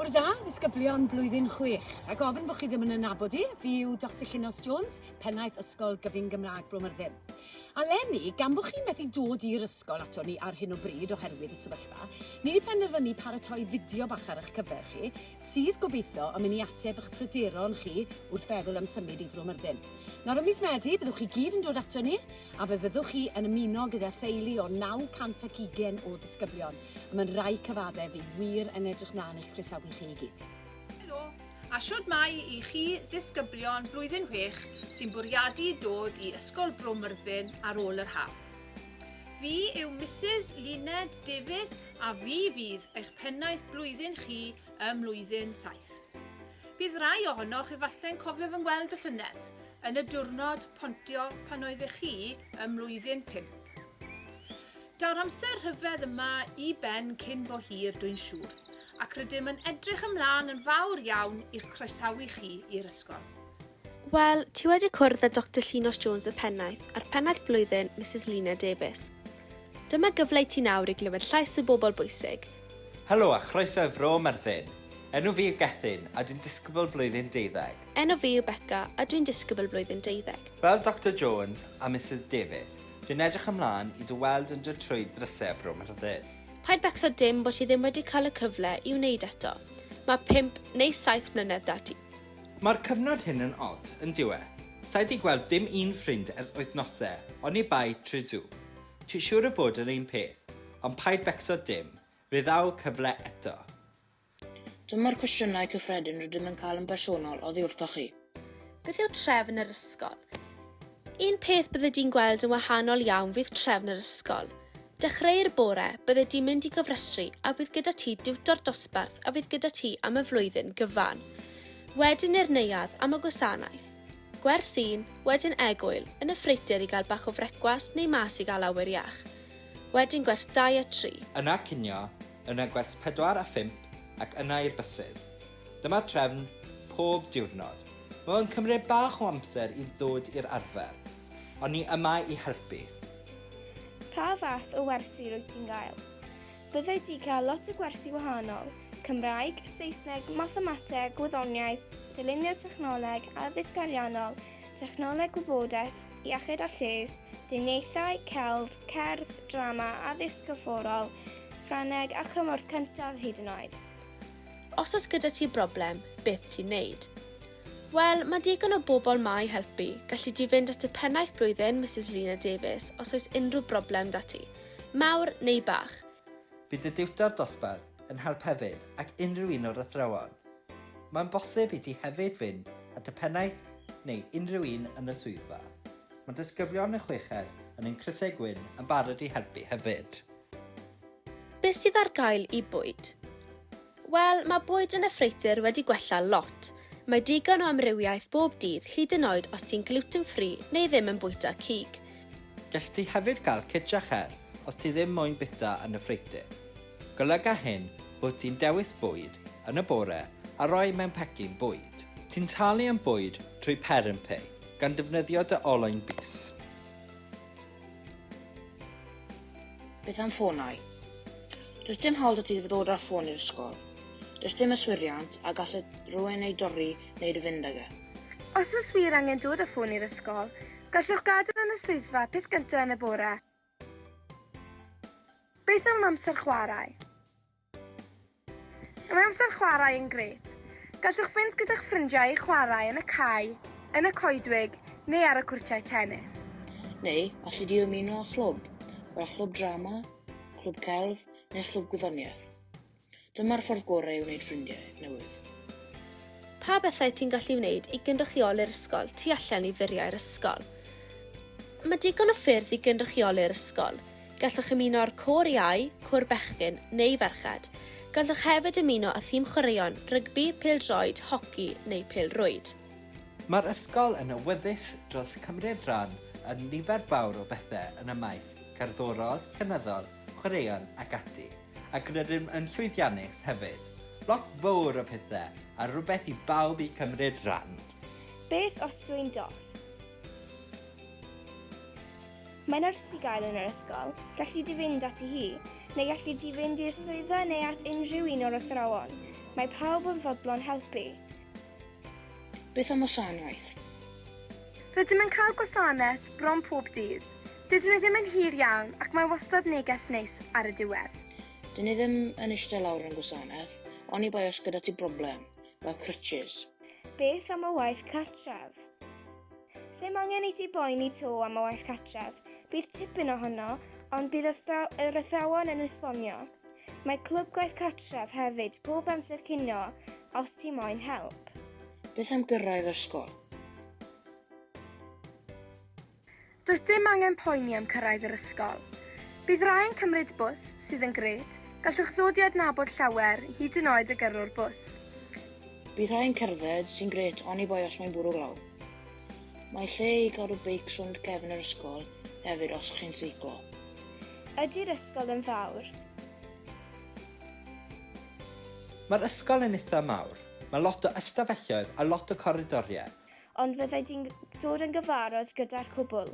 Bore da, ddisgyblion blwyddyn 6. Rhaid gofyn bod chi ddim yn ynabod i, fi yw Dr Llinos Jones, pennaeth Ysgol Gyfun Gymraeg Bro Myrddin. A lenni, gan bod chi methu dod i'r ysgol ato ni ar hyn o bryd oherwydd y sefyllfa, ni wedi penderfynu paratoi fideo bach ar eich cyfer chi sydd, gobeithio, yn mynd i ateb eich pryderon chi wrth feddwl am symud i Fro Myrddin. Nawr ym mis Medi, byddwch chi gyd yn dod ato ni, a fe fyddwch chi yn ymuno gyda theulu o 920 o ddisgyblion, y mae'n rai cyfaddef fi wir yn edrych mlaen i'ch croesawu chi i gyd. Helo, a shwd mae i chi ddisgyblion blwyddyn chwech sy'n bwriadu dod i Ysgol Bro Myrddin ar ôl yr haf? Fi yw Mrs Luned Davies A fi fydd eich pennaeth blwyddyn chi ym mlwyddyn saith. Bydd rai ohonoch efallai'n cofio fy ngweld y llynedd, yn y diwrnod pontio pan oeddech chi ym mlwyddyn pump. Daw'r amser rhyfedd yma i ben cyn bo hir, dwi'n siŵr, ac rydym yn edrych ymlaen yn fawr iawn i'ch croesawu chi i'r ysgol. Wel, ti wedi cwrdd â Doctor Llinos Jones y pennaeth a'r pennaeth blwyddyn, Mrs Lina Davies. Dyma gyfle i ti nawr i glywed llais y bobl bwysig. Helo a chroeso i Fro Myrddin. Enw fi yw Gethin a dwi'n disgybl blwyddyn deuddeg. Enw fi yw Beca a dwi'n disgybl blwyddyn deuddeg. Fel Doctor Jones a Misus Davies, dwi'n edrych ymlaen i dy weld yn dod trwy ddrysau y Bro Myrddin. Paid becso dim bod ti ddim wedi cael y cyfle i wneud eto. Mae pump neu saith mlynedd 'da ti. Mae'r cyfnod hyn yn od, yn dyw e? Sai 'di gweld dim un ffrind ers wythnose, oni bai Tridu. Ti siwr o fod yr un peth? Ond paid becso dim, rhyddhau cyfle eto. Dyma'r cwestiynau cyffredin rydym yn cael yn bersonol oddi wrthoch chi. Beth yw trefn yr ysgol? Un peth bydde di'n gweld yn wahanol iawn fydd trefn yr ysgol. Dechreu'r bore, bydde di'n mynd i gofrestru a bydd gyda ti diwtor dosbarth a fydd gyda ti am y flwyddyn gyfan. Wedyn i'r neuadd am y gwasanaeth. Gwers un, wedyn egwyl, yn y ffreutur i gael bach o frecwast neu mas i gael awyr iach. Wedyn gwers dau a tri. Yna cinio, yna gwers pedwar a phump ac yna i'r bysydd. Dyma trefn pob diwrnod. Mae o'n cymryd bach o amser i ddod i'r arfer, ond ni yma i helpu. Pa fath o wersi rwyt ti'n gael? Byddai di cael lot o gwersi wahanol, Cymraeg, Saesneg, Mathemateg, Gwyddoniaeth, Dylunio Technoleg, Addysg Ariannol, Technoleg Gwybodaeth, Iechyd a Lles, Diniaethau, Celf, Cerdd, Drama, Addysg Corfforol, Ffrangeg a Chymorth Cyntaf hyd yn oed. Os oes gyda ti broblem, beth ti'n neud? Wel, mae digon o bobl ma i helpu. Gallu di fynd at y pennaeth blwyddyn, Mrs Lina Davies, os oes unrhyw broblem da ti. Mawr neu bach. Bydd y diwtor dosbarth yn help hefyd ac unrhyw un o'r athrawon. Mae'n bosib i ti hefyd fynd at y pennaeth neu unrhyw un yn y swyddfa. Mae disgyblion y chweched yn ein crysau gwyn yn barod i helpu hefyd. Beth sydd ar gael i bwyd? Wel, mae bwyd yn y ffreutur wedi gwella lot. Mae digon o amrywiaeth bob dydd hyd yn oed os ti'n gluten free neu ddim yn bwyta cig. Gell di hefyd gael cig a cher os ti ddim moyn bwyta yn y ffreutur. Golyga hyn bod ti'n dewis bwyd yn y bore a rhoi mewn pecyn bwyd. Ti'n talu am bwyd trwy ParenPay gan ddefnyddio dy olwyn bys. Beth am ffonau? Does dim hawl da ti fod ddod â'r ffôn i'r ysgol. Does dim yswiriant a gall y rhywun ei dorri neu dy fynd ag e. Os oes wir angen dod â ffôn i'r ysgol, gallwch gadael yn y swyddfa peth gyntaf yn y bore. Beth am amser chwarae? Mae amser chwarae yn grêt. Gallwch fynd gyda'ch ffrindiau i chwarae yn y cae, yn y coedwig neu ar y cwrtiau tennis. Neu, alli di ymuno â chlwb, fel chlwb drama, clwb celf neu chlwb gwyddoniaeth. Dyma'r ffordd gorau i wneud ffrindiau newydd. Pa bethau ti'n gallu wneud i gynrychioli'r ysgol tu allan i furiau'r ysgol? Mae digon o ffyrdd i gynrychioli'r ysgol. Gallwch ymuno â'r Côr Iau, Côr Bechgyn neu Ferched. Gallwch hefyd ymuno â thîm chwaraeon, rygbi, pêl-droed, hoci neu pêl-rwyd. Mae'r ysgol yn awyddus dros cymryd rhan yn nifer fawr o bethau yn y maes cerddorol, llenyddol, chwaraeon ac ati, ac rydym yn llwyddiannus hefyd. Lot fawr o pethau a rhywbeth i bawb i cymryd rhan! Beth os dw i'n dost? Mae nyrs i gael yn yr ysgol, galli di fynd ati hi, neu galli di fynd i'r swyddfa neu at unrhyw un o'r athrawon, mae pawb yn fodlon helpu. Beth am wasanaeth? Rydym yn cael gwasanaeth bron pob dydd. Dydyn nhw ddim yn hir iawn ac mae wastad neges neis ar y diwedd. Dyn ni ddim yn eistedd lawr yn gwasanaeth, oni bai os gyda ti broblem, fel crutches. Beth am y waith cartref? Sem angen i ti boeni to am y waith catref, bydd tipyn ohono, ond bydd yr athrawon yn esbonio. Mae clwb gwaith catref hefyd pob amser cinio os ti moyn help. Beth am gyrraedd ysgol? Does dim angen poeni am cyrraedd yr ysgol. Bydd rhai'n cymryd bws, sydd yn gret, gallwch ddod i adnabod llawer, hyd yn oed y gyrrwr bws. Bydd rhai'n cerdded, sy'n gret, oni bai os mae'n bwrw glaw. Mae lle i gadw beics rownd gefn yr ysgol hefyd os chi'n seiclo. Ydy'r ysgol yn fawr? Mae'r ysgol yn itha mawr. Mae lot o ystafelloedd a lot o coridoriau. Ond fyddai di'n dod yn gyfarwydd gyda'r cwbl.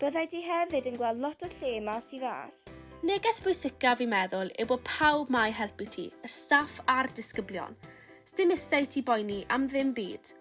Byddai di hefyd yn gweld lot o lle mas i fas. Neges bwysicaf fi'n meddwl yw bod pawb 'ma i helpu ti, y staff a'r disgyblion. Sdim isie i ti boeni am ddim byd.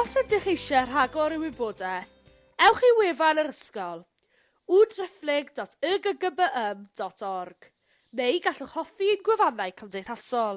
Os ydych eisiau rhagor o wybodaeth, ewch i wefan yr ysgol, www.driphlyg.yggybym.org, neu gallwch hoffi ein gwefannau cymdeithasol.